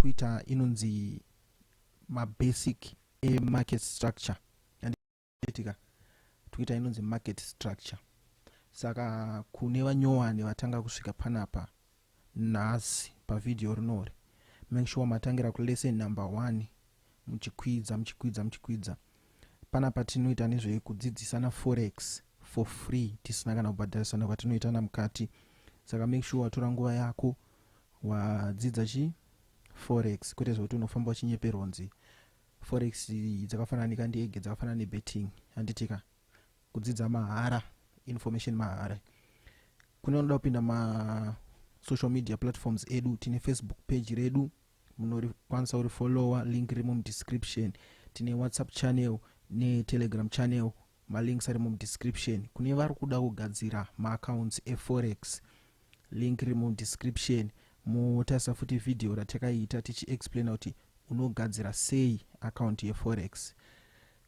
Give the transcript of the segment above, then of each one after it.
kuita inonzi mabasic emarket structure anditika toita inonzi market structure saka kune vanyowani vatanga kusvika panapa nhasi pavhidhiyo rinori make sure matangira kulesson number one muchikwidza muchikwidza muchikwidza pana patinoita nezvekudzidzisana forex for free tisina kana kubhadharisana kwatinoitana mukati saka make sure watora nguva yako wadzidza chi forex kwete zvekuti unofamba uchinyeperwa unzi forex dzakafanana nekandege dzakafanana nebetting handitika kudzidza mahara information mahara kune vanoda kupinda ma social media platforms edu tine facebook page redu munokwanisa uri follower link riri mumudescription tine whatsapp channel netelegram channel Malinks ari mudescription kune vari kuda kugadzira maaccounts eforex. Link riri mudescription. Motarisa futi vhidhiyo ratakaita tichiexplaina kuti unogadzira sei account yeforex.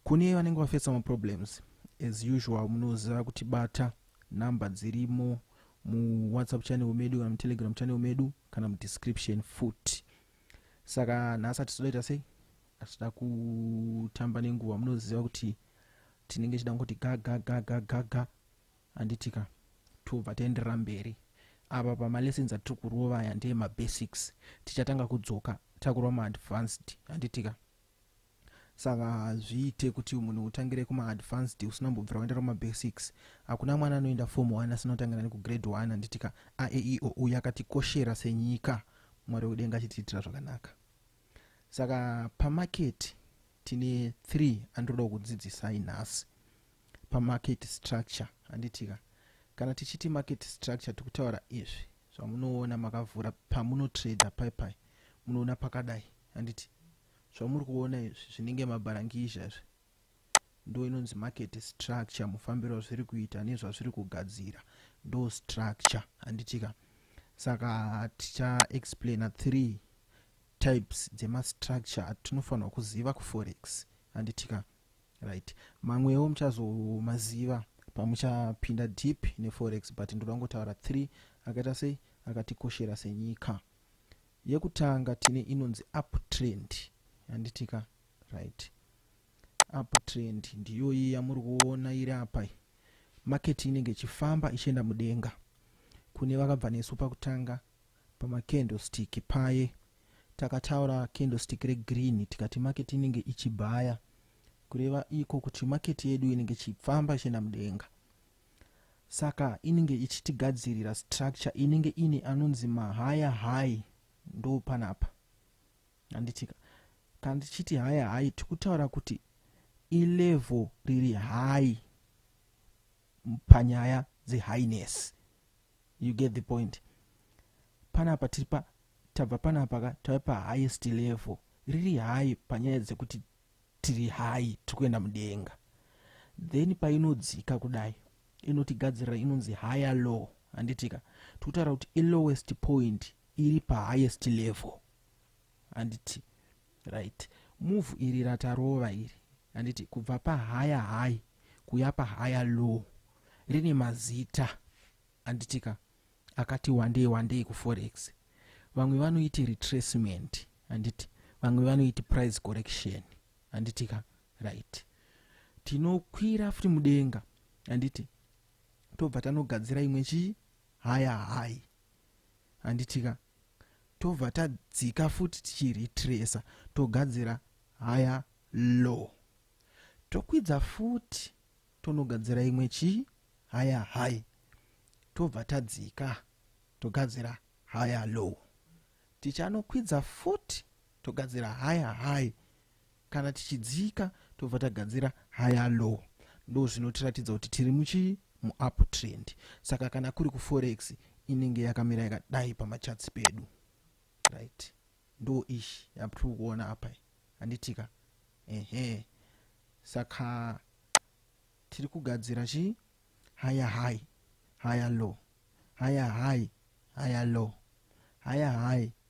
Kune vanenge vafesa maproblems, as usual munoziva kutibata, number dzirimo muwhatsapp channel medu kana mutelegram channel medu kana mudescription futi. Saka nhasi atisodaita sei? hatida kutamba nenguva munoziva kuti tinenge chida kuti gagagagagaga handiti ka tobva taenderera mberi apa pamalessons atiri kurova aya ndeye mabasics tichatanga kudzoka takurova maadvanced handiti ka saka hazviite kuti munhu utangire kumaadvanced usina mbobvira waenda kumabasics hakuna mwana anoenda form one asina kutangira nekugrade one handiti ka aeio uyu akatikoshera senyika mwari wedenga achitiitira zvakanaka saka pamarket tine three andinoda kukudzidzisai nhasi pamarket structure handitika kana tichiti market structure tikutaura izvi zvamunoona makavhura pamunotrader paipai munoona pakadai handiti zvamuri kuona izvi zvinenge mabharangizha izvi ndoinonzi market structure mufambiro wazviri kuita nezvazviri kugadzira ndo structure handitika saka ticha explaina three types dzemastructure atinofanirwa kuziva kuforex handitika right mamwewo muchazomaziva pamuchapinda deep neforex but ndoda ngotaura three akaita sei akatikoshera senyika yekutanga tine inonzi uptrend handitika right apa trend ndiyoyi yamuri kuona iri apa market inenge ichifamba ichienda mudenga kune vakabva nesu pakutanga pamakendostik paye takataura kendostik regreen tikati market inenge ichibhaya kureva iko kuti market yedu inenge ichifamba ichienda mudenga saka inenge ichitigadzirira structure inenge ine anonzi mahaya high ndo panapa Handitika. Kana tichiti haya hayi tikutaura kuti ilevel riri hayi panyaya dzehighness. You get the point. Panapa tiri pa tabva panapa ka tave pahighest level riri hayi panyaya dzekuti tiri hayi tiri kuenda mudenga then painodzika kudai inotigadzirira inonzi higher law handitika tikutaura kuti ilowest point iri pahighest level handiti right move iri ratarova iri handiti kubva pahaya high kuya pahaya low rine mazita handitika akati wandei wandei kuforex vamwe vanoiti retracement handiti vamwe vanoiti price correction handitika right tinokwira futi mudenga handiti tobva tanogadzira imwe chii haya hayi handitika tobva tadzika futi tichiretracer togadzira haya low tokwidza futi tonogadzira imwe chii haya high tobva tadzika togadzira haya low tichanokwidza futi togadzira haya high Kana tichidzika tobva tagadzira higher low ndozvinotiratidza kuti tiri muchii muup trend saka kana kuri kuforex inenge yakamira yakadai pamachatsi pedu right ndo ishi yatiri kuona apa handitika ehe saka tiri kugadzira chii higher high higher low higher high higher low higher high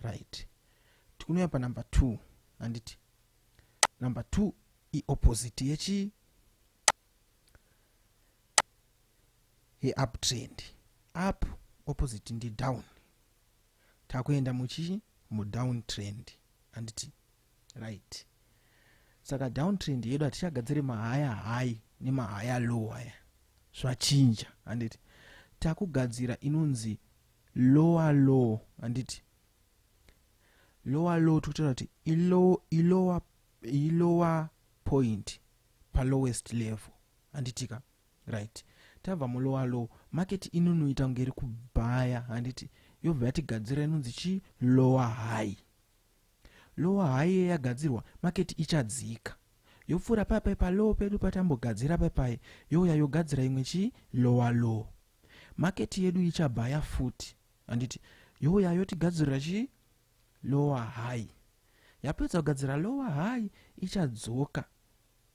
right tikunouya panumber two handiti number two iopposite yechii yeuptrend up opposite ndi down takuenda muchii mudown trend handiti right saka down trend yedu hatichagadziri mahaya high nemahaya low aya zvachinja handiti takugadzira inonzi lower low handiti lower low tikutaura kuti ilower ilower point palowest level handitika right tabva mulower low market inonoita kunge iri kubhaya handiti yobva yatigadzira inonzi chi lower high lower high ye yagadzirwa market ichadzika yopfuura papai palow pedu patambogadzira papai youya yogadzira imwe chi lower low market yedu ichabhaya futi handiti youya yotigadzirira chii lower high yapedza kugadzira lower high ichadzoka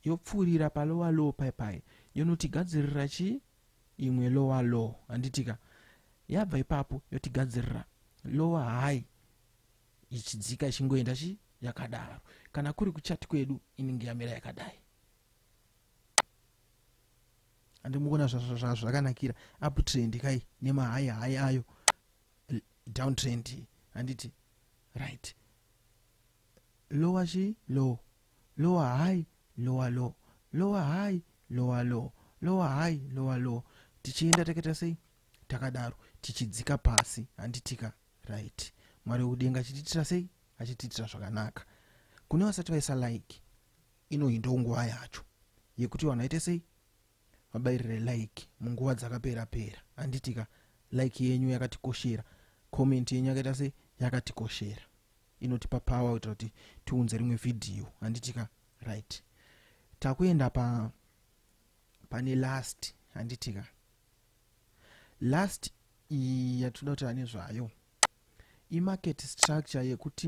yopfuurira palower low pai pai yonotigadzirira chii imwe lower low handitika yabva ipapo yotigadzirira lower high ichidzika ichingoenda chii yakadaro kana kuri kuchati kwedu inenge yamira yakadai andimuona zvazvakanakira uptrend kai nemahai hai ayo down trend handiti right lower chi low lower high lower low lower high lower low lower high lower low tichienda takaita sei takadaro tichidzika pasi handitika right mwari wekudenga achitiitira sei achitiitira zvakanaka kune vasati vaisa like inoi ndonguva yacho yekuti vanhu vaite sei vabairire like munguva dzakapera pera handiti ka like yenyu yakatikoshera comment yenyu yakaita sei yakatikoshera inotipa power kuitira kuti tiunze rimwe vhidhiyo handiti ka right takuenda pa pane last handiti ka last iyi yatinoda kutaura nezvayo imarket structure yekuti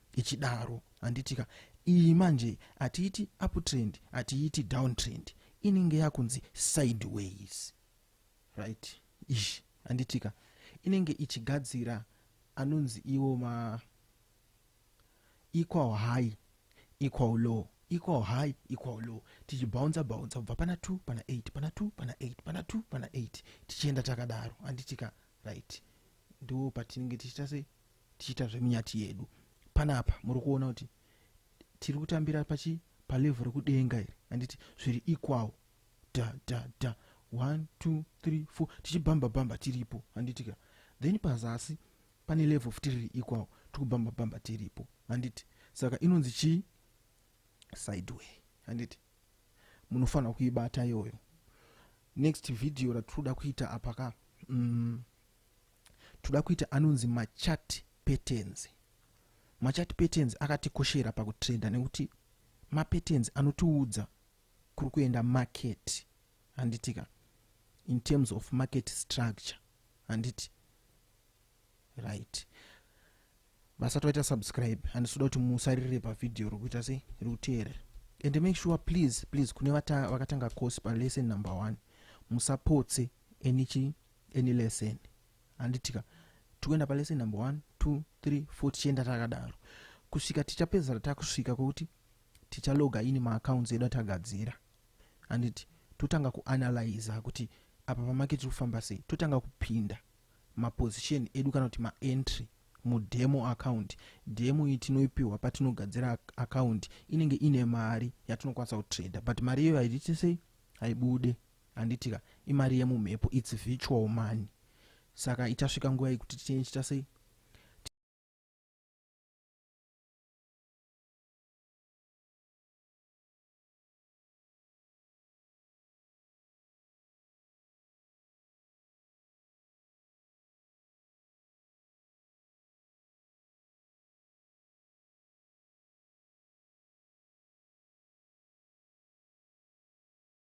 ichidaro handitika iyi manje hatiiti uptrend hatiiti downtrend inenge yakunzi sideways right ish handitika inenge ichigadzira anonzi iwo ma equal high equal low equal high equal low tichibhaunza bhaunza kubva pana 2 pana 8 pana 2 pana 8 pana 2 pana 8 tichienda takadaro handitika right ndo patinenge tichita sei tichiita zvemunyati yedu panapa muri kuona kuti tiri kutambira pachi palevhu rekudenga iri handiti zviri equal da da da 1 2 3 4 tichibhamba bhamba tiripo handiti ka then pazasi pane level futi riri equal tikubhamba bhamba tiripo handiti saka inonzi chii sideway handiti munofanira kuibata iyoyo next video ratiri kuda kuita apaka mm, toda kuita anonzi machati patterns machati patterns akatikoshera pakutrenda nekuti mapatterns anotiudza kuri kuenda market handitika in terms of market structure handiti right vasati vaita subscribe handisi kuda kuti musaririre pavhidhiyo ri kuita sei ri kuteerera and make sure please please kune vakatanga course palesson number one musapotse any chi any lesson handitika tikuenda palesson number one two three four tichienda takadaro kusvika tichapedzisira takusvika kwekuti tichaloga ini maaccounts edu atagadzira handiti totanga kuanalyza kuti apa pamake tiri kufamba sei totanga kupinda maposition edu kana kuti maentry mudemo account demo iyi tinoipiwa patinogadzira account inenge ine mari yatinokwanisa kutrader but mari iyoyo haititi sei haibude Handiti ka imari yemumhepo its virtual money saka ichasvika nguva yekuti tichine chita sei?